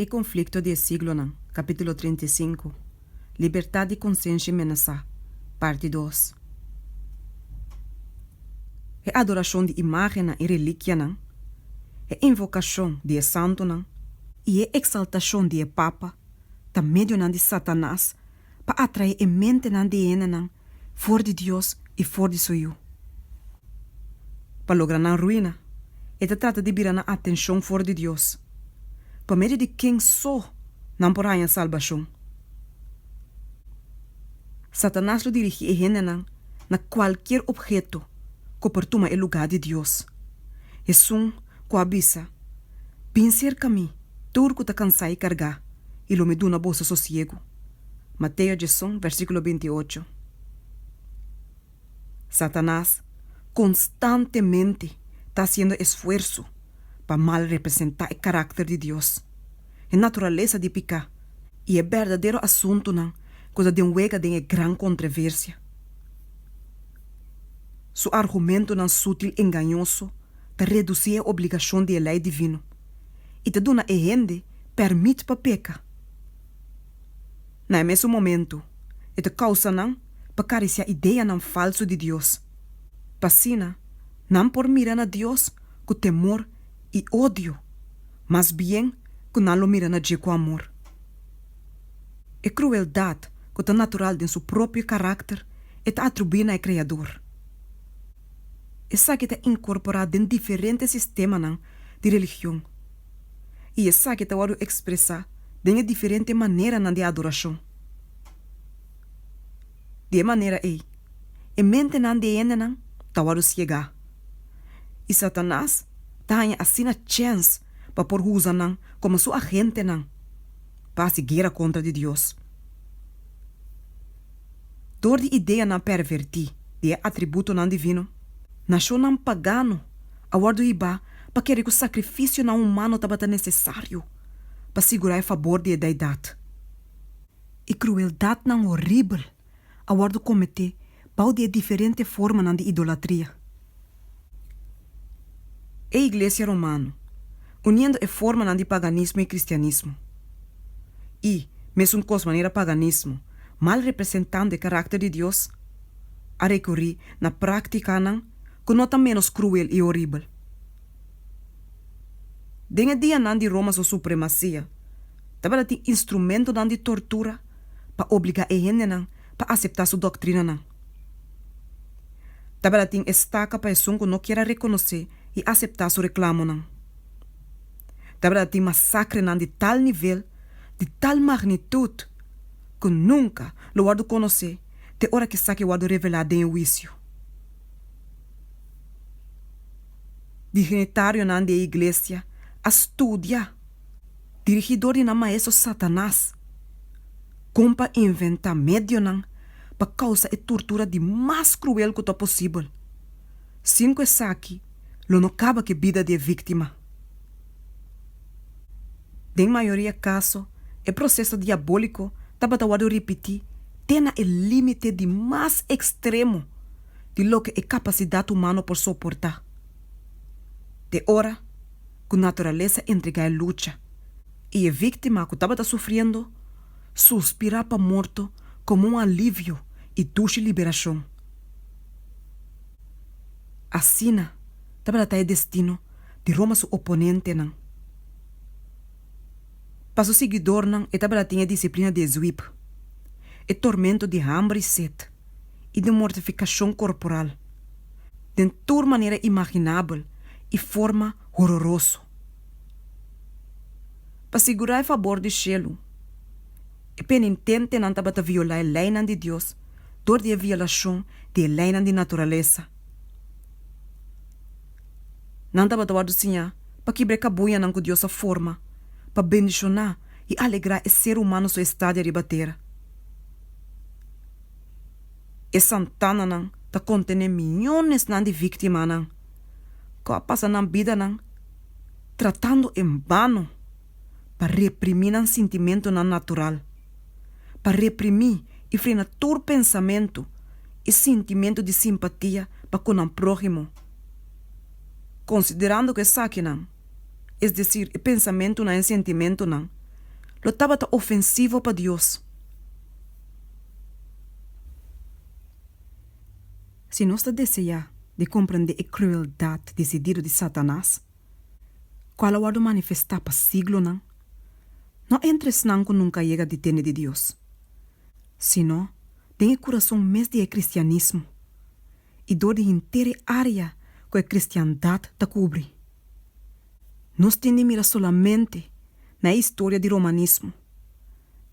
E konflikto di e siglonan, Kapítulo trinta i sinku, Libertat di konsenshi menesá, Parti dos. E adorashon di imágennan i relikianan, e invokashon di e santunan, i e eksaltashon di e papa ta medionan di Satanas pa atrae e mentenan di hendenan for di Dios i for di su Yu. Pa logra nan ruina, e ta trata di bira nan atenshon for di Dios. Pa medio di ken so nan por haña salbashon? Satanas lo dirigí e hendenan na kualkier opheto ku por tuma e lugá di Dios. Esun ku a bisa, Bin serka mi, tur ku ta kansá i kargá, i lo mi duna boso sosiegu. Mateo djesun, versíkulo binti ocho. Satanas konstantemente ta hasiendo esfuerso pa mal representá e karakter di Dios, e naturalesa di piká i e berdadero asuntunan ku ta den wega den e gran kontreversia. Su argumentonan sútil engañoso ta redusí e obligashon di e lei divino i ta duna e hende pèrmit pa peka. Na e mesun momentu, e ta kousa nan pa karisiá ideanan falsu di Dios. Pa asina, nan por mira na Dios ku temor i odio, mas bien ku nan lo mira na dje ku amor. E krueldat ku ta natural den su propio karakter e ta atribuí na e Kreador. Esaki ta inkorporá den diferente sistemanan di religion. i esaki ta wòrdu ekspresá den e diferente maneranan di adorashon. Di e manera ei, e mentenan di e hendenan ta wòrdu siegá, i Satanas ta haña asina chèns pa por usa nan komo su agentenan pa hasi guera kontra di Dios. Dor di ideanan pervertí di e atributonan divino, nashonnan pagano a wòrdu hibá pa kere ku sakrifisionan humano tabata nesesario pa sigurá e fabor di e deidat. I krueldatnan horibel a wòrdu kometé bou di e diferente formanan di idolatria. e iglesia romano, uniendo e formanan di paganismo i kristianismo. I, mesun kos manera paganismo, mal representando e karakter di Dios, a rekurí na práktikanan ku no ta ménos kruel i horibel. Den e dianan di Roma su supremasia, tabata tin instrumentonan di tortura pa obligá e hendenan pa aseptá su doktrinanan. Tabata tin estaka pa esun ku no kier a rekonosé i aseptá su reklamonan. Tabata tin masakrenan di tal nivel, di tal magnitut, ku nunka lo wòrdu konosé te ora ku esaki wòrdu revelá den e huisio. Diginitarionan di e iglesia a studia dirigidor di nan maestro Satanas. Kon pa inventá medionan pa kousa e turtura di mas kruel ku ta posibel, sin ku esaki lo no kaba ku e bida di e víktima. Den mayoria kaso, e proseso diabóliko tabata wòrdu ripití te na e límite di mas ekstremo di loke e kapasidat humano por soportá, te ora ku naturalesa entregá e lucha i e víktima ku tabata sufriendo suspirá pa morto komo un alivio i dushi liberashon. Asina tabata ta e destino di Roma su oponentenan. Pa su siguidornan e tabata tin e disiplina di e zwip, e tormento di hamber i set i di mortifikashon korporal den tur manera imaginabel i forma hororoso. Pa sigurá e fabor di shelu, e penintentenan tabata violá e leinan di Dios dor di e violashon di e leinan di naturalesa. Nan tabata wòrdu siñá pa kibra e kabuñanan ku Dios a forma pa bendishoná i alegrá e ser humano su estadia riba tera. E santananan ta kontené miñonesnan di víktimanan. ku a pasa nan bidanan tratando en bano pa reprimí nan sintimentunan natural, pa reprimí i frena tur pensamentu i sintimentu di simpatia pa ku nan próhimo. Konsiderando ku esakinan, es desir e pensamentunan en sentimentunan, lo tabata ofensivo pa Dios. Si nos ta deseá di komprendé e krueldat desidido di Satanas, kual a wòrdu manifestá pa siglonan, no entre esnan ku nunka a yega di tende di Dios, sino den e kurason mes di e kristianismo i dor di henter e área ku e kristiandat ta kubri. Nos tin di mira solamente na e historia di romanismo,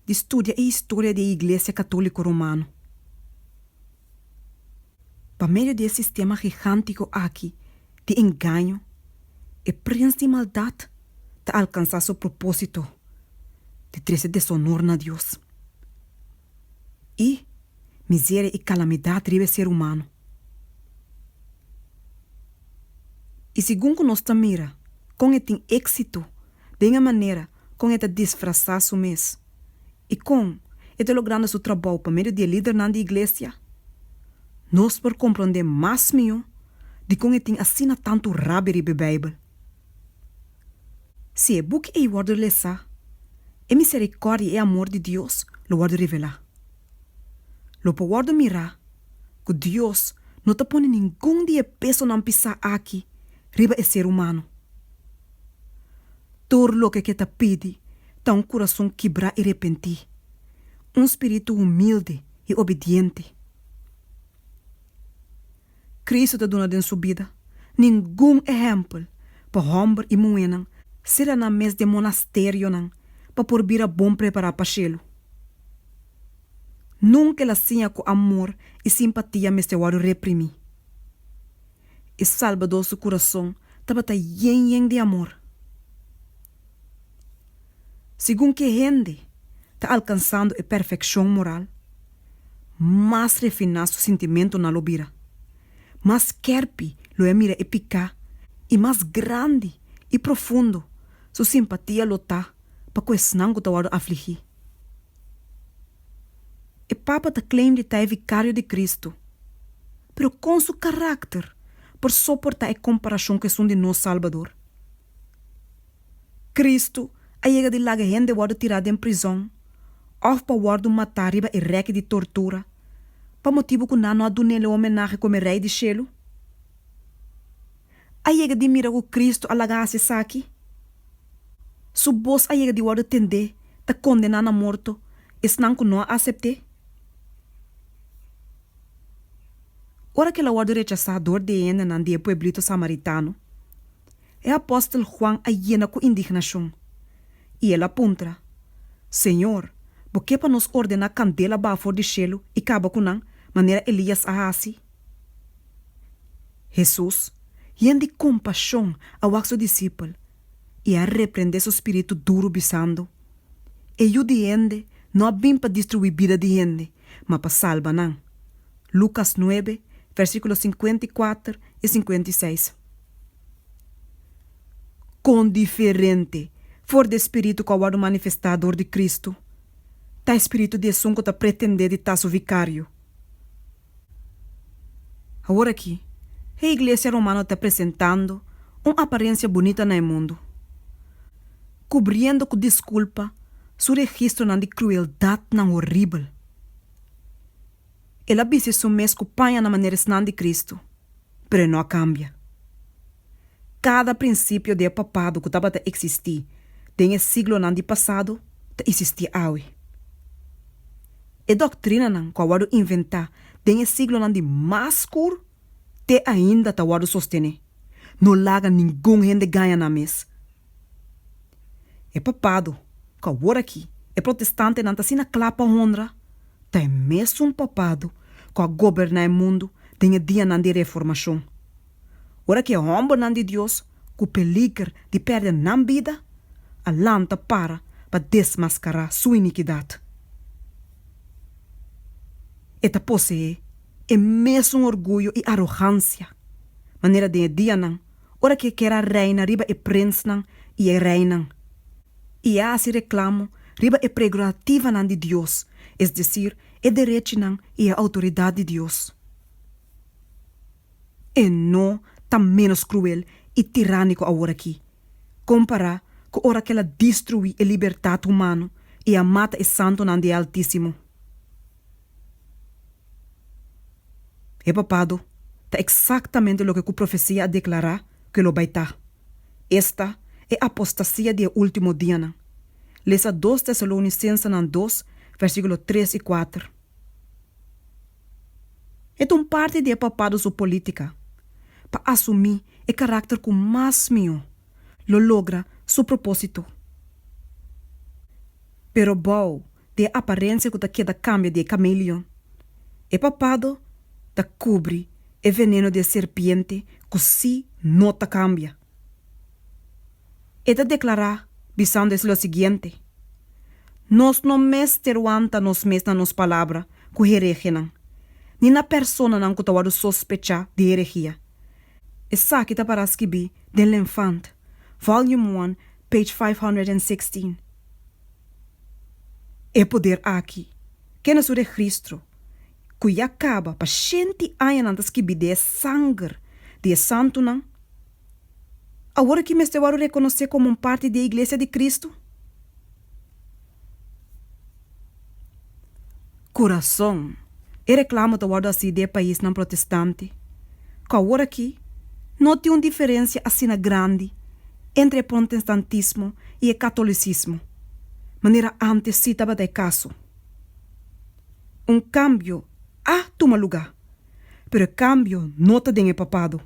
di studia e historia di e Iglesia Katóliko Romano. Pa medio di e sistema gigántico aki di engaño, e prins di maldad ta alcansá su propósito di trese deshonor na Dios i miseria i calamidad riba e ser humano. I segun cu nos ta mira con e tin éxito den e manera con e ta disfrazá su mes, I kon e ta logrando su trabou pa medio di e lidernan di Iglesia? Nos por komprondé mas mihó dikon e tin asina tantu rabia riba e Beibel. Si e buki ei wòrdu lesá, e miserikòrdia i e amor di Dios lo wòrdu revelá. Lo por wòrdu mirá ku Dios no ta pone ningun di e pesonan pisá aki riba e ser humano. Tur loke ke ta pidi ta un kurason kibrá i repentí, un spiritu humildi i obidiente. Kristu ta duna den su bida ningun ehèmpel pa hòmber i muhénan sera nan mes den monasterionan pa por bira bon prepará pa shelu. Nunka el a siña ku amor i simpatia mester wòrdu reprimí. E Salbador su kurason tabata yen yen di amor. Segun ke hende ta alkansando e perfekshon moral, mas refiná su sintimentonan lo bira, mas kèrpi lo e a mira e piká i mas grandi i profundo su simpatia lo ta pa ku esnan ku ta wòrdu afligí. E Papa ta claim di ta e Vikario di Kristu. Pero con su caracter por soporta e comparacion cu esun di nos Salbador? Cristo a yega di laga hende wordo tira den prizon of pa wordo mata riba e reki di tortura pa motibo cu nan no a dunel e homenahe como e Rey di Shelu? A yega di mira cu Cristo a laga haci esaki? Su boz a yega di wordo tende ta condena na morto esnan cu no a acepte? Ora ke la wòrdu rechasá dor di e hendenan di e pueblito samaritano, e apòstel Huan a yena ku indignashon i el a puntra, Señor, bo ke pa nos ordená kandel a baha for di shelu i kaba ku nan, manera Elías a hasi? Hesus, yen di kompashon, a wak su disipel i a reprendé su spiritu duru bisando, E yu di hende no a bin pa destruí bida di hende, ma pa salba nan. Lucas nuebe, versículo sinkuenta i kuater i sinkuenta i seis. Kon diferente for di e spiritu ku a wòrdu manifestá dor di Kristu ta e spiritu di esun ku ta pretendé di ta su vikario! Awor aki, e iglesia romano ta presentando un aparensia bunita na e mundu. kubriendo ku diskulpa su registronan di krueldatnan horibel. El a bis'e su mes ku paña na manera esnan di Kristu, pero e no a kambia. Kada prinsipio di e papado ku tabata eksistí den e siglonan di pasado ta isistí awe. E doktrinanan ku a wòrdu inventá den e siglonan di mas skur te ainda ta wòrdu sostené, No laga ningun hende gaña nan mes. E papado, cu aworaki e protestantenan ta asina cla pa honra, ta e mesun papado cu a goberna e mundu den e dianan di Reformacion. Ora cu e hombernan di Dios cu peliger di perde nan bida a lanta para pa desmascara su iniquidad, e ta poseé e mesun orguyo y arogancia manera den e dianan ora ki e kier a reina riba e prinsnan i e reinan, i e a hasi reklamo riba e pregrorativanan di Dios, es desir, e derechinan i e outoridat di Dios. E no ta ménos kruel i tirániko aworakí, kompará ku ora ki el a destruí e libertat humano i a mata e santunan di e Altísimo. E papado ta exactamente loke cu profecia a declara cu lo bay ta. Esta e apostasia di e ultimo dianan. Lesa Dos Tesalonicensenan dos, versiculo tres y cuater. E ta un parti di e papado su politica pa asumi e caracter cu mas mihó lo logra su proposito. Pero bao di e aparensia ku ta keda kambia di e kameleon. E papado ta kubri e veneno di e serpiente ku si no ta kambia. E ta deklará bisando es lo siguiente, Nos no mester wanta nos mes na nos palabra ku heregenan, ni na personanan ku ta wòrdu sospechá di heregia. Esaki ta pará skibí den L'Enfant, Volume I, page 516. E poder aki, ke na su regristro ku ya kaba pa shenti añanan ta skibid'é sanger di e santunan, awor aki mester wòrdu rekonosé komo un parti di e Iglesia di Kristu? Kurason. E reklamo ta wòrdu hasi di e paisnan protestante, ku awor aki no tin un diferensia asina grandi entre e prontestantismo i e katolisismo, manera ántes sí tabata e kaso. Un kambio a tuma lugá, pero e kambio no ta den e papado.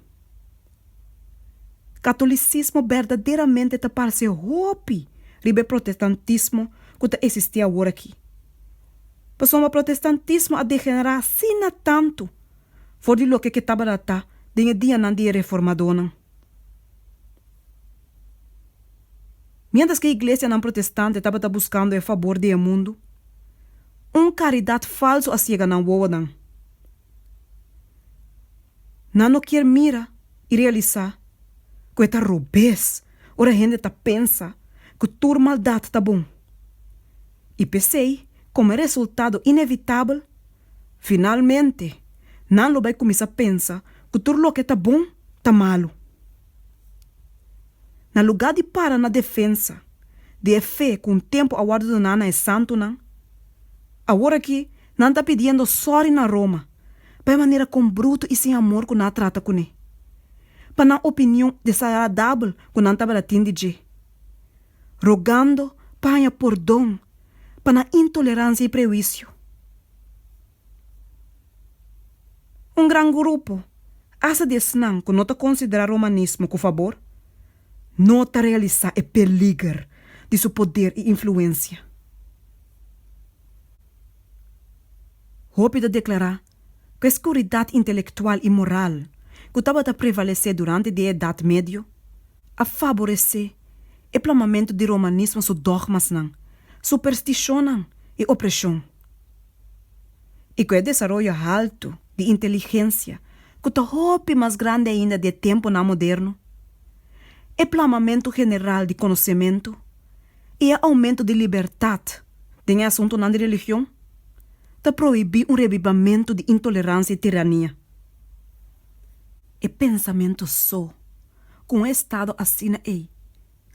Katolisismo berdaderamente ta parse hopi riba e protestantismo ku ta eksistí awor aki. Pasobra protestantismo a degenerá asina tantu for di loke ke tabata ta den e dianan di e reformadónan. Miéntras ke iglesianan protestante tabata buskando e fabor di e mundu, un karidat falsu a siega nan wowonan. Nan no kier mira i realisa ku e ta robes ora hende ta pensa ku tur maldat ta bon. I p'esei, komo e resultado inevitabel, finalmente nan lo bai kuminsá pensa ku tur loke ta bon ta malu. Na lugá di para na defensa di e fe ku un tempu a wòrdu doná na e santunan, aworakí Nan ta pidiendo sorry na Roma pa e manera con bruto y sin amor cu nan a trata cune, pa nan opinion desagradabel cu nan tabata tin di dje, rogando pa haña pordon pa nan intolerancia y prehuicio. Un gran grupo hace di esnan cu no ta considera romanismo cu fabor. no ta realisá e peliger di su poder i influensia. Hopi ta deklará ku e skuridat intelektual i moral ku tabata prevalesé durante di e Edat Medio a faboresé e plamamentu di Romanismo su dògmasnan, superstishonnan i opreshon. i ku e desaroyo haltu di inteligensia ku ta hopi mas grandi ainda di e tempunan moderno, e plamamentu general di konosementu i e oumentu di libertat den e asuntunan di religion ta prohibí un revivamentu di intoleransia i tirania. E pensamentu so, ku un estado asina ei,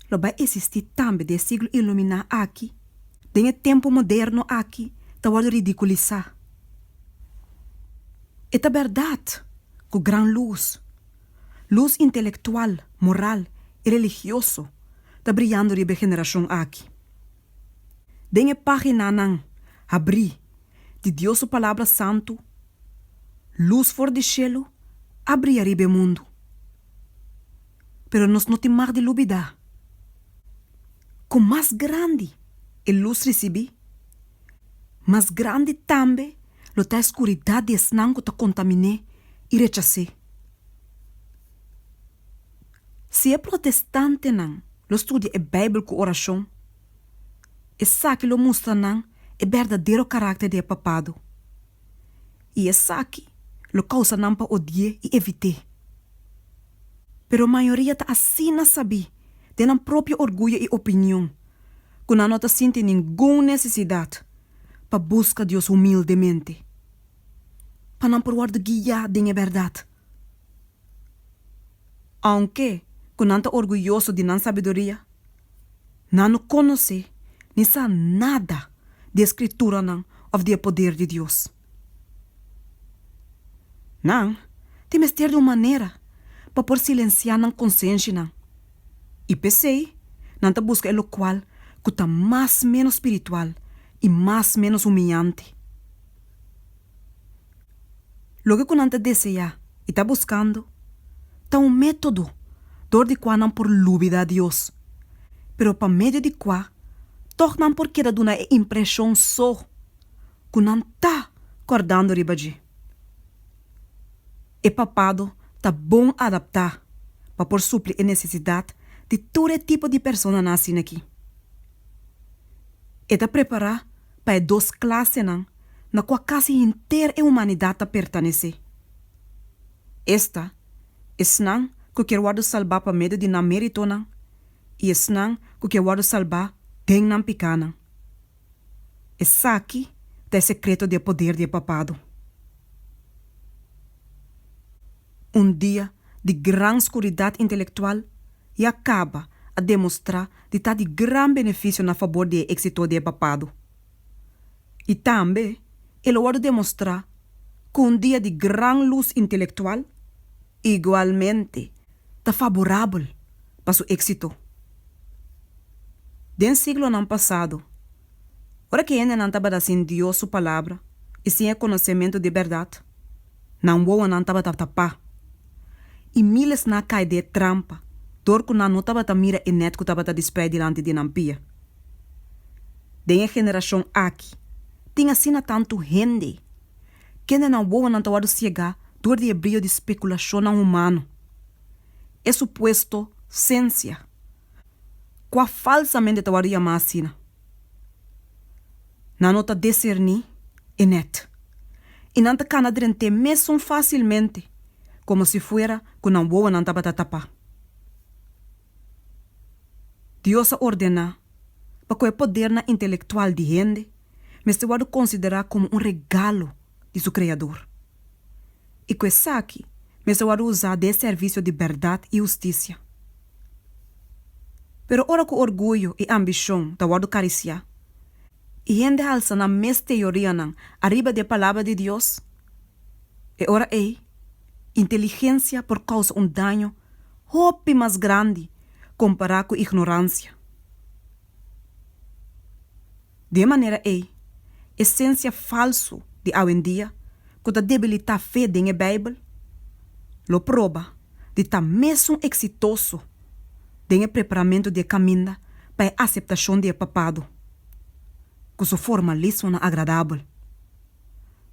lo bai esistí tambe den e siglo iluminá aki, den e tempu moderno aki ta wòrdu ridikulisá. E ta bèrdat ku gran lus, lus intelektual, moral i religioso, ta briando riba e generashon aki. Den e páginanan habrí di Dios su Palabra Santu, lus for di shelu a bria riba e mundu. Pero nos no tin mag di lubidá ku mas grandi e lus risibí, mas grandi tambe lo ta e skuridat di esnan ku ta kontaminé i rechas'é. Si e protestantenan lo studia e Beibel ku orashon, esaki lo mustra nan e berdadero karakter di e Papado, i esaki lo kousa nan pa odi'é i evit'é. Pero mayoria ta asina sabí, den nan propio orguyo i opinion, ku nan no ta sinti ningun nesesidat pa buska Dios humildemente, pa nan por wòrdu guiá den e bèrdat. Ounke ku nan ta orguyoso di nan sabiduria, nan no konosé ni sa nada di e Skrituranan òf di e poder di Dios. Nan tin mester di un manera pa por silensiá nan konsenshianan, i p'esei nan ta buska e lokual ku ta mas ménos spiritual i mas ménos humiante. Loke ku nan ta deseá i ta buskando ta un método dor di kua nan por lubida Dios, pero pa medio di kua tòg nan por keda duna e impreshon so. ku nan ta kòrdando riba dje. E papado ta bon adaptá pa por supli e nesesidat di tur e tipo di personanan asin'akí. E ta prepará pa e dos klasenan na kua kasi henter e humanidat ta pertanesé. Esta, esnan ku kier wòrdu salbá pa medio di nan méritonan i esnan ku kier wòrdu salbá den nan pikánan. Esaki ta e sekreto di e poder di e Papado. Un dia di gran skuridat intelektual ya kaba a demostrá di ta di gran benefisio na fabor di e éksito di e Papado. I tambe e lo wòrdu demostrá ku un dia di gran lus intelektual, Igualmente ta faborabel pa su éxito. Den siglonan pasado, ora ki hendenan tabata sin Dios su Palabra i sin e konosementu di bèrdat, nan wowonan tabata tapá, i míles na kai den e trampa dor ku nan no tabata mira e nèt ku tabata disprei dilanti di nan pia. Den e generashon aki tin asina tantu hende Kendenan wowonan ta wòrdu siegá dor di e brio di spekulashonnan humano, e supuesto sensia, kua falsamente ta wòrdu yamá asina. Nan no ta deserní e nèt, i nan ta kana drent'é mesun fásilmente komo si fuera ku nan wowonan tabata tapá. Dios a ordená pa ku e podernan intelektual di hende mester wòrdu konsiderá komo un regalo di su Kreador. I ku esaki mester wòrdu usá den servisio di bèrdat i hustisia. Pero ora ku orguyo i ambishon ta wòrdu karisiá, i hende halsa nan mes teorianan ariba di e Palabra di Dios, e ora ei inteligensia por kousa un daño hopi mas grandi kompará ku ignoransia. Di e manera ei, esensia falsu di awendia ku ta debilitá fe den e Beibel lo proba di ta mesun eksitoso den e preparamentu di e kaminda pa e aseptashon di e Papado ku su formalismonan agradabel.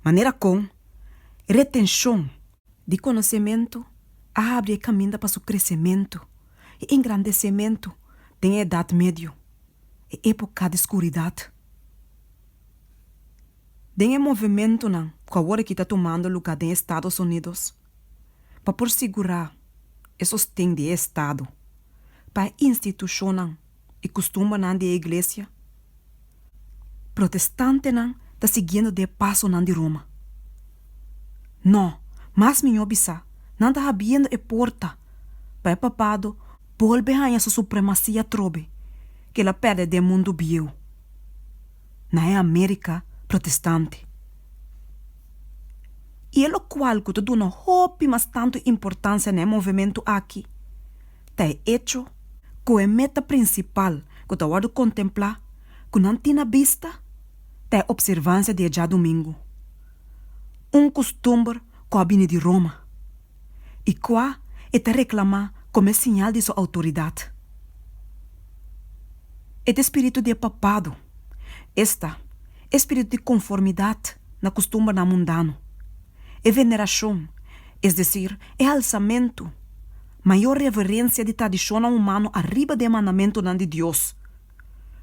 Manera kon e retenshon di konosementu a habri e kaminda pa su kresementu. e engrandesementu den e Edat Medio, e epoka di skuridat. Den e movementunan ku awor aki ta tumando lugá den Estados Unidos pa por sigurá e sosten di e estado pa e institushonnan i kustumbanan di e iglesia, protestantenan ta siguiendo di e pasonan di Roma. No, mas mihó bisá, nan ta habiendo e porta pa e papado bolbe haña su supremasia atrobe ku el a pèrdè den mundu bieu, na e Amérika protestante. I e lokual ku ta duna hopi mas tantu importansia na e movementu aki ta e echo ku e meta prinsipal ku ta wòrdu kontemplá ku nan tin na bista ta e opservansia di e djadumingu, un kustumber ku a bini di Roma i kua e ta reklamá komo e siñal di su outoridat. E ta e spiritu di e papado, esta, e spiritu di konformidat na kustumbernan mundano, e venerashon, es desir, e alsamentu, mayor reverencia di tradicionnan humano ariba den mandamentonan di Dios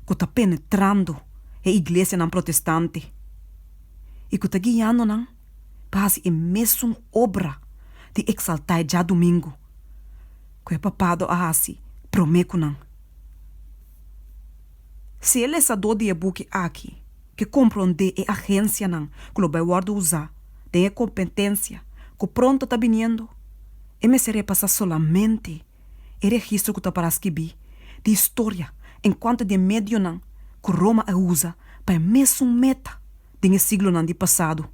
cu ta penetrando e iglesianan protestante y cu ta guiando nan pa haci e mesun obra di exalta e dja domingo cu e papado a haci prome cu nan. Si e lesadó di e buki aki ke komprondé e agensianan ku lo bai wòrdu usá den e kompetensia ku pronto ta biniendo, e mester repasá solamente e registro ku ta pará skibí di historia enkuanto di e medionan ku Roma a usa pa e mesun meta den e siglonan di pasado.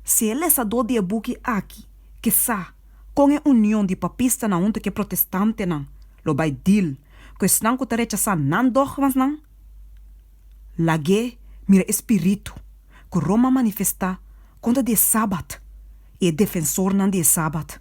Si e lesadó di e buki aki ke sa kon e union di papistanan huntu ku e protestantenan lo bai deal ku esnan ku ta rechasá nan dògmasnan? Lag'é mira e spiritu ku Roma manifestá kontra di e Sabat i e defensornan di e Sabat.